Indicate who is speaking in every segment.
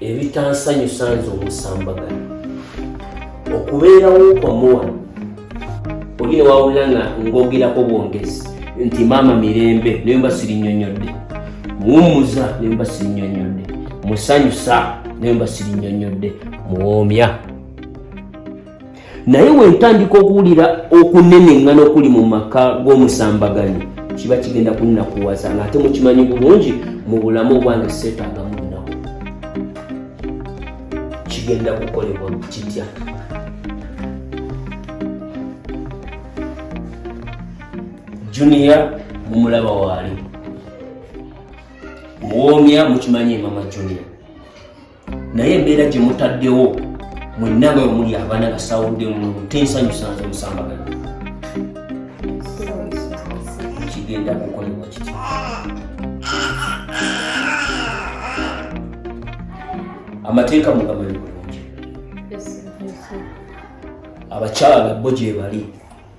Speaker 1: ebitansanyusa nze omusambagano okubeerawo kwamuwa oli newawulira nga ngogerako bwongezi nti maama mirembe naye mba sirinyonyodde muwummuza naye mba sirinyonyodde musanyusa naye mba sirinyonyodde muwoomya naye wentandika okuwulira okuneneŋŋana okuli mu maka g'omusambaganyi kiba kigenda kunnakuwaza nga ate mukimanyi bulungi mu bulamu obwange seetaagamu lunaku kigenda kukolebwa kitya juniya mumulaba waali muwoomya mukimanyi emama juniya naye embeera gye mutaddewo mwenna nga omuli abaana gasawudde mu tensanyusanze omusambagano kigenda kukolebwa kiti amateeka mugamanyi bulungi abakyala bo gyebali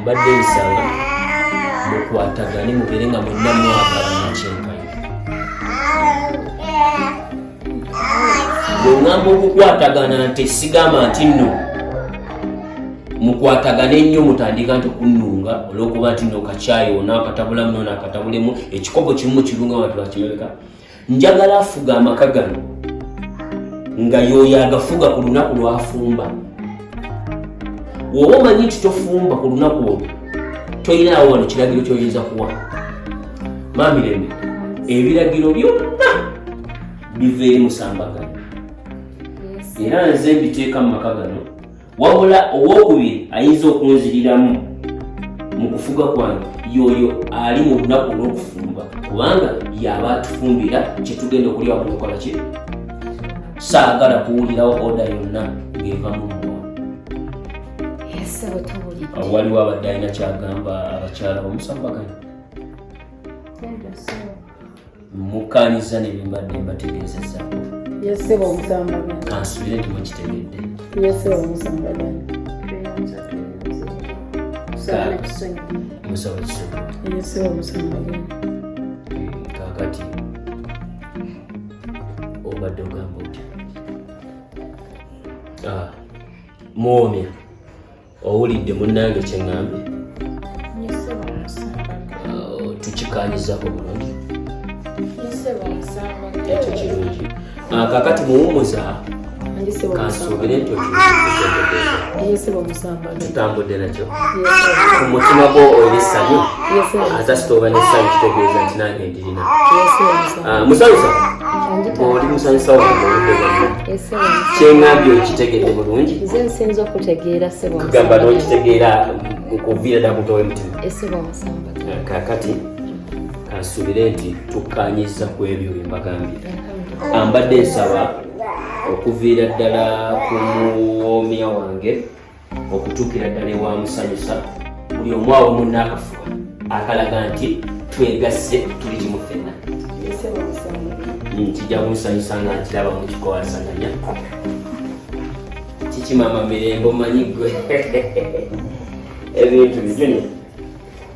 Speaker 1: mbadde nsaba mukwatagane mubeere nga mwenna mwagalana kyenkanyi bwengamba okukwatagana nti sigamba nti nno mukwatagane nnyo mutandika nti okunnunga olwokuba nti no kakyayi ona akatabulamu nona akatabulemu ekikopo kimu mukirunga watu bakimeka njagala afuga amaka gano nga yoyo agafuga ku lunaku lwafumba woba omanyi nti tofumba ku lunaku olwo toyinaawo wano kiragiro kyoyinza kuwa mamirembe ebiragiro byonna biva eri musambagano era nze mbiteeka mu maka gano wabula owokubiri ayinza okunziriramu mu kufuga kwange yoyo ali mu lunaku olwokufumba kubanga yaba atufumbira kyetugenda okulya wamukola ki saagala kuwulirawo oda yonna ng'eva mu mwoyo waliwo abadde alina kyagamba abakyala bamusambagana mukkaanyizza ne bye mbadde mbategeezezaako yeseba
Speaker 2: omusamba kansubire nti
Speaker 1: mukitegedde yeseba
Speaker 2: omusamba
Speaker 1: musaba kisonga yeseba omusamba kakati obadde ogamba otya ah, muwomya owulidde munnange kyeŋŋambye
Speaker 2: oh, tukikanyizaako
Speaker 1: bulungi
Speaker 2: ekyo kirungi
Speaker 1: ah, kakati muwumuza kansuubire nti
Speaker 2: tutambudde nakyo
Speaker 1: ku mutima gwo oyo essanyu asasita oba n'essanyu kitegeeza nti nange Ah, musanyusa oli musanyusa kyeŋambye okitegedde bulungi nze nsinza
Speaker 2: okutegeera kugamba nokitegeera
Speaker 1: okuviira dda kutowa emitima
Speaker 2: ah, kakati
Speaker 1: kansuubire nti tukkanyiza ku ebyo bye mbagambye ambadde nsaba okuviira ddala ku muwoomya wange okutuukira ddala ewamusanyusa buli omu awo munna akafuba akalaga nti twegasse tuli kimu fenna kijja kumusanyusa nga nkiraba mukikowasaganya kikimama mirembe omanyi gwe ebintu bijuni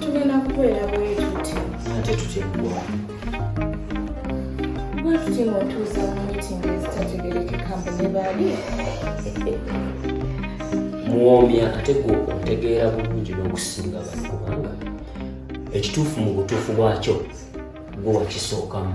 Speaker 2: tugenda kubeera bwetuti ate tuteggwa bwetuti ngaotuuza mu mitingi ezitategerekeka mbu ne baali
Speaker 1: muwoomya ate gwe otegeera bulungi n'okusinga bali kubanga ekituufu mu butuufu bwakyo gwe wakisookamu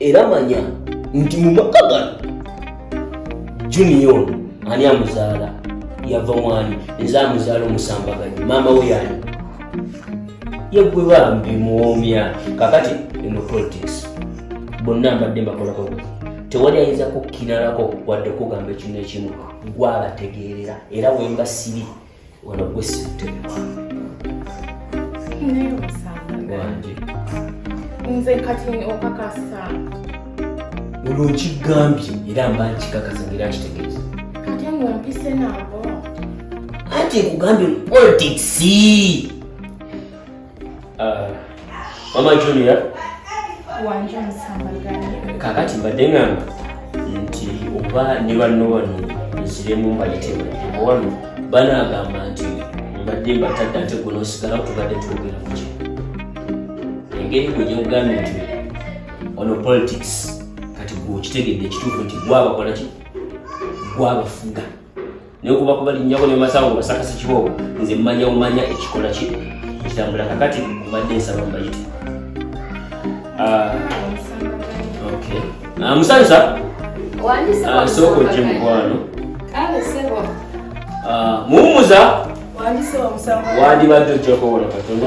Speaker 1: era manya nti mu maka gano junior ani amuzaala yava mwani nze amuzaala omusambaganyi maama we yani yegwe bambi muwomya kakati eno politics bonna mbadde mbakolako tewali ayinza kukkinalako wadde okugamba ekintu ekimu gwabategeerera era wemba sibi wano gwe sittewa naye
Speaker 2: omusanga wange nze kati okakasa
Speaker 1: olwo nkigambye era mba nkikakasa ngaera nkitegeeza kati ngompise
Speaker 2: nabo anti
Speaker 1: nkugambye politics Uh, mama Junior wanje
Speaker 2: omusambagane kakati mbadde
Speaker 1: ngamba nti oba ne banno bano nziremu mbayitemu owano banaagamba nti mbadde mbatadde ate gwe nosigala tubadde twogera kuki engeri gwe gyogambye nti ono politics kati gwe okitegedde ekituufu nti gwabakolaki gwabafuga naye kuba kubalinnyako ne masawo nga basakasi kiboobo nze mmanya umanya ekikola ki ekitambula kakati mbadde nsaba mbayite ah, ah, musanyusa ah, sooka ojje mukwano muwumuza wandibadde ojjakowola katono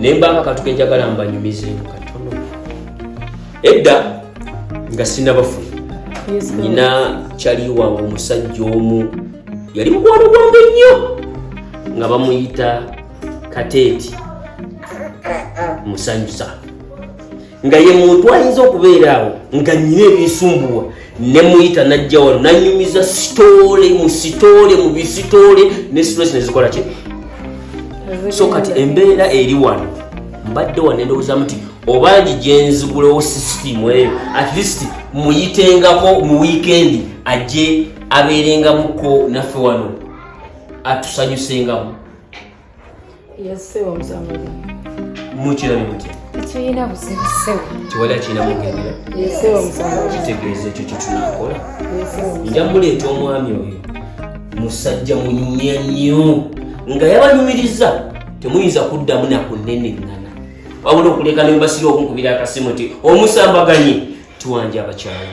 Speaker 1: naye mbanga katu kenjagala mbanyumizeemu katono edda nga sinabafu nina kyali wange omusajja omu yali mukwano gwange nnyo nga bamuyita kateeti musanyusa nga ye muntu ayinza okubeera awo nga nyina ebisumbuwa ne muyita najja wano nanyumiza sitoole mu sitoole mu bisitoole ne stress nezikola ki so kati embeera eri wano mbadde wano endowooza muti obangi gyenzigulewo sisitimu eyo at least muyitengako mu wiikendi ajje abeerengamuko naffe wano atusanyusengamu yassewo omusango mukirani mutya tulina buzibu
Speaker 2: ssewo tewali akirina
Speaker 1: mugendera yassewo omusango kitegeeza ekyo kyetunakola nja muleeta omwami oyo musajja munyumya nnyo nga yabanyumiriza temuyinza kuddamu nakuneneŋŋana wabula okuleka nembasira okunkubira akasimu nti omusambaganye tuwanja abakyala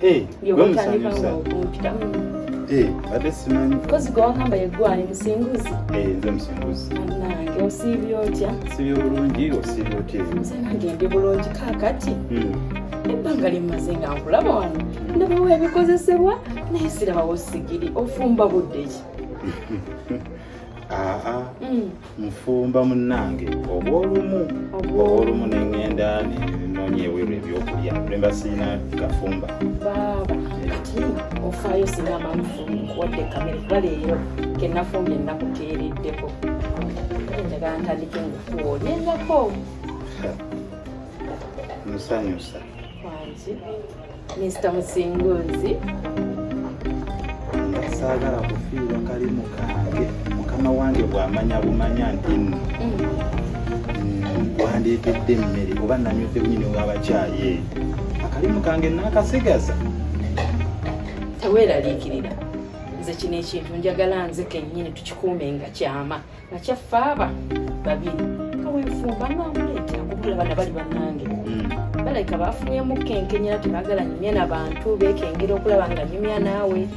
Speaker 2: Eh, gwe
Speaker 3: musanyusa eh, ate simanyi kozi gwe wagamba yeggwani
Speaker 2: musinguzi eh, nze musinguzi
Speaker 3: nange osiibye
Speaker 2: otya siibye bulungi
Speaker 3: osiibye otya nze nange ndi
Speaker 2: bulungi kakati hmm. ebbanga lyemmaze nga nkulaba wano hmm. ndabawo ebikozesebwa naye sirabawo sigiri ofumba budde ki aa ah, ah.
Speaker 3: hmm. nfumba munnange obwolumu obwolumu nengenda nenonya eweru ebyokulya lemba sirina kafumba baaba
Speaker 2: ati ofaayo singa amamufuwadde kamere kuba leero kenafumbye nakuteereddeko enjaga ntandike ngakuwa olyenzako
Speaker 3: musanyusa
Speaker 2: wange Mr.
Speaker 3: Musinguzi saagala kufiirwa kalimu kange mukama wange bw'amanya bumanya nti nno wandeetedde emmere oba nanywedde bunyini w'abakyayi eyo akalimu kange naakasigaza
Speaker 2: teweeraliikirira nze kino ekintu njagala nze kennyini tukikuume nga kyama nakyaffe aba babiri kawenfumba namuleeta kubula bana bali banange hmm. balabika bafunuyemu kenkenyera tebagala nyumya na bantu bekengera okulaba nga nyumya naawe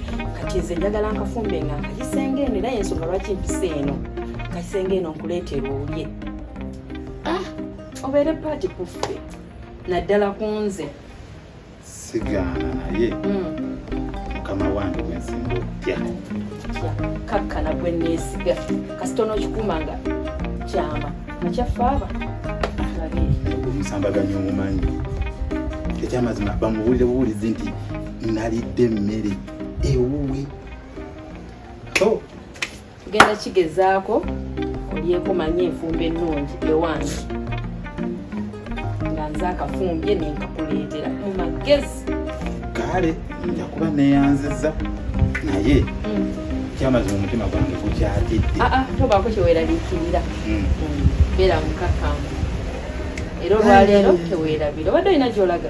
Speaker 2: kati nze njagala nkafumbe nga nkayisenge eno era yensonga lwaki mpisa eno nkayisenge eno nkuleetera olye ah, obeere paati kuffe naddala ku nze
Speaker 3: sigaana naye mukama wange gwensinga okutya
Speaker 2: kakkana gwe neesiga kasita onokikuuma nga kyama nakyaffe aba omusambaganya
Speaker 3: omumanyi ekyamazima bamuwulire buwulizi nti nalidde emmere ewuwe
Speaker 2: tugenda kigezaako olyeko manye enfumba ennungi ewange nga nze akafumbye nenkakuleetera mu magezi kale
Speaker 3: nja kuba neyanziza naye mm. kyamazi mu mutima gwange gukyatidde ah, ah, tobaako
Speaker 2: kyeweraliikirira mm. mm. beera mukakamu era olwaleero tewerabira obadde olina gyolaga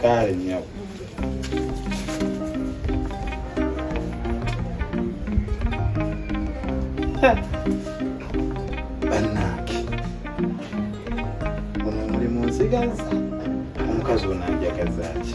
Speaker 2: Kale nyabo.
Speaker 3: Banange. Ono muli mu nsiganza. Omukazi ono anjagaza ki?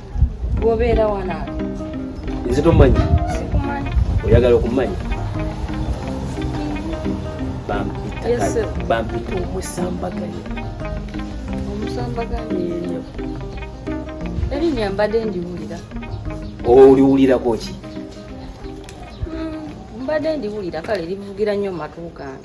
Speaker 1: Gobeera
Speaker 2: wana. Nze
Speaker 1: tommanyi. Sikumanyi.
Speaker 2: Oyagala okummanyi? Bampita
Speaker 1: omusambaganyi. Omusambaganyi
Speaker 2: eyo. Eri nyambadde ndiwulira.
Speaker 1: Oliwulirako ki?
Speaker 2: Hmm, mbadde ndiwulira kale livugira nnyo matu gange.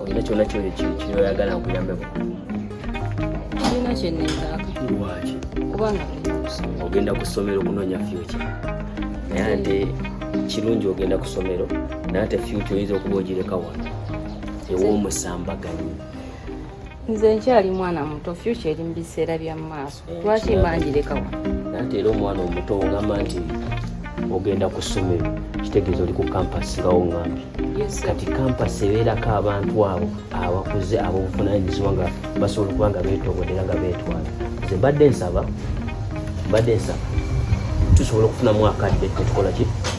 Speaker 1: olina kyona kyoyagala nkuyambeko olina
Speaker 2: kyenezaako lwaki
Speaker 1: kubanga
Speaker 2: ogenda ku ssomero okunoonya
Speaker 1: fyuki naye ate kirungi ogenda ku ssomero naye ate fyuki oyinza okuba ogireka wano ew'omusambaganyi nze
Speaker 2: nkyali mwana muto fyuca eri mu biseera bya maaso eh, lwaki mbanjirekawa nate era omwana
Speaker 1: omuto ogamba nti ogenda ku ssomero kitegeeza oli ku kampasi nga oŋambi kati kampasi ebeerako abantu abo abakuze abobuvunanyizibwa nga basobola okuba nga betobodera nga betwala nze mbadde nsaba mbadde nsaba tusobola okufunamu akadde tetukola ki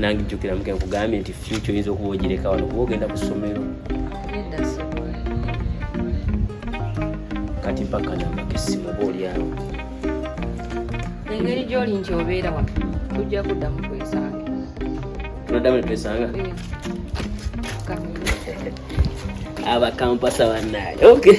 Speaker 2: nange jjukira muke
Speaker 1: nkugambye nti fyuca oyinza okuba ogireka wano kuba ogenda ku ssomero kati mpaka namba kessimu oba olyawo engeri
Speaker 2: gyoli nti obeera wano tujja kuddamu kwesanga tunaddamu
Speaker 1: netwesanga abakampasa bannaye okay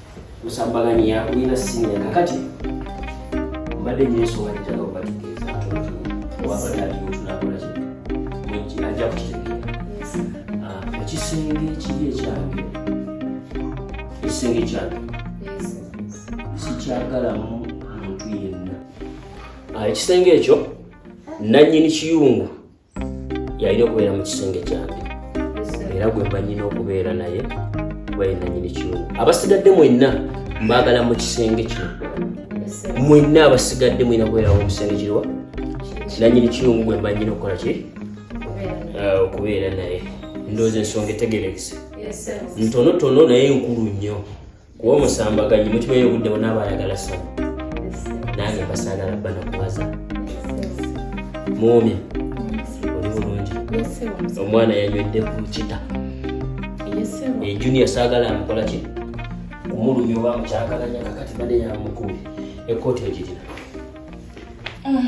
Speaker 1: musambagani yakulina siniya kakati mbadde nyo ensonga gyetala obatugeeza wabadde aliyo tunakola ki ajja kukitegera ah, ekisenge ekiri ekyange ekisenge ekyange sikyagalamu muntu yenna ah, ekisenge ekyo nanyini kiyungu yalina okubeera mu kisenge kyange era gwe mba nyina okubeera naye kuba yenanyini kiwumu abasigadde mwenna mbaagala mu kisenge kino mwenna abasigadde mwina kubeerawo mu kisenge kiriwa nanyini kiwumu gwe mba nyina okukola ki eh, okubeera naye ndooza ensonga etegerekese ntonotono naye nkulu nnyo kuba omusambaganyi mukibayo obudde bona abayagala saba nange basagala bana kubaza muumi oli bulungi omwana yanywedde ku kita ejunior sagala amukola ki kumulumya oba mukyakalanya kakati bade yamukubi ekooti ogirina ah.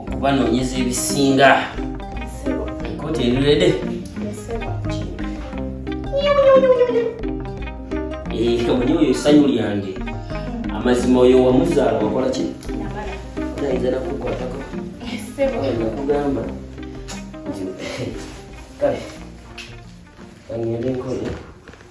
Speaker 1: okubanoonyeza ebisinga enkooti erirede eh, omuli oyo essanyu lyange amazima oyo wamuzaala wakola ki ayinza nakukwatako nakugamba nti kale angende nkole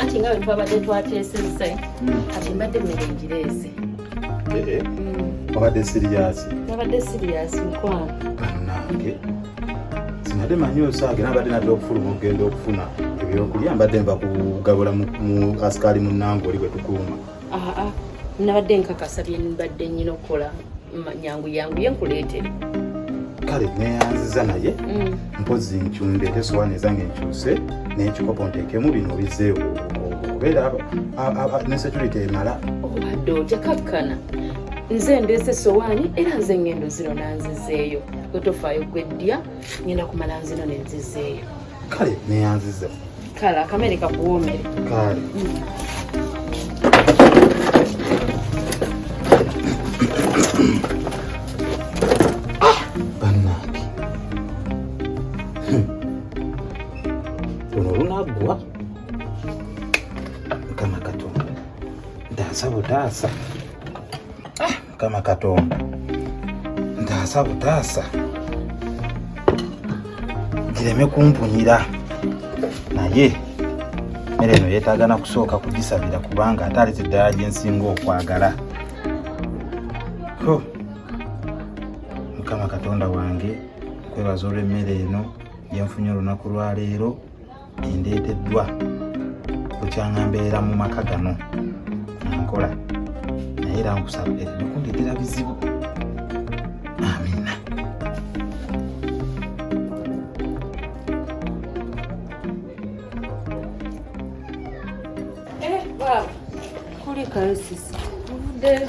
Speaker 4: anti nga wetwabadde twateesezza hmm. kati mbadde mmere ngireese eh, eh. hmm.
Speaker 3: wabadde siriyasi nabadde siriyasi
Speaker 4: mukwano banange
Speaker 3: sinade manyi osaage nabadde nadde okufuluma okugenda okufuna ebyokulya mbadde nva kugabula mu asikaali munange oli bwe tukuuma aa
Speaker 4: nabadde nkakasa byenbadde nyina okukola nyangu yangu ye nkuleetere kale
Speaker 3: neyanziza naye mm. mpozi nkyundeete sowaani ezange nkyuse nekikopo nteekemu bino bizeewo okubeera ne security emala obadde oh, otya
Speaker 4: kakkana nze ndeese sowaani era nze ngendo zino nanzizeeyo gwetofaayo gweddya ngenda kumala nzino nenzizeeyo kale
Speaker 3: neyanziza kale akamere
Speaker 2: kakuwomere kale
Speaker 3: ah! banange hmm. luno lunaggwa mukama katonda ntaasa butaasa Mukama Katonda ntaasa butaasa gireme kumpunyira naye emmere eno yeetaaga na kusooka kugisabira kubanga ate alete eddala gye nsinga okwagala ho mukama katonda wange kwebaza olw'emmere eno gyenfunye olunaku lwaleero endeeteddwa bukyanga mbeera mu maka gano nkola naye era nkusaba ebikundeetera bizibu Karibu sisi.
Speaker 2: Burada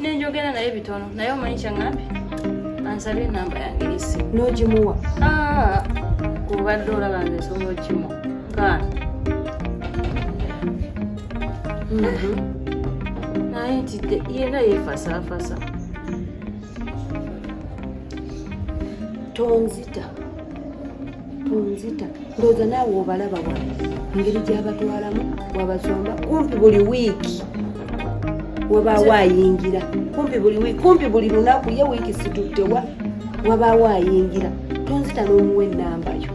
Speaker 2: nenjogera naye bitono naye omanyi kyaŋambi ansabye enamba yange esi n'ogimuwa ah, obadde olaba nze nsobola okimu gaana mhm. naye nti yena yefasaafasa tonzita tonzita ndowooza naawe obalaba wa ngeri gyabatwalamu wabasomba kumpi buli wiiki wabaawo ayingira kumpi buli wiiki kumpi buli lunaku ye wiiki situttewa wabaawo ayingira tonzita n'omuwa ennambayo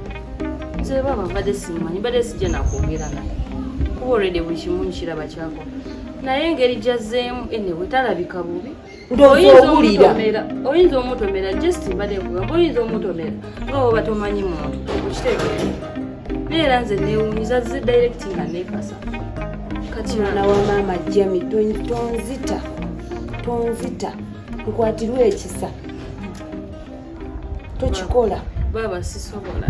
Speaker 2: nze baba mbadde simanyi mbadde sijja nakwogera naye kuba olwedde buli kimu nkiraba kyakola naye engeri gyazzeemu enewe talabika bubi oyinza omutomera just mbadde nkugamba oyinza omutomera nga woba tomanyi muntu okitegeera naye era nze newunyiza zi direct nga nekasa kati mwana wa maama jami tonzita tonzita nkwatirwa ekisa tokikola baaba sisobola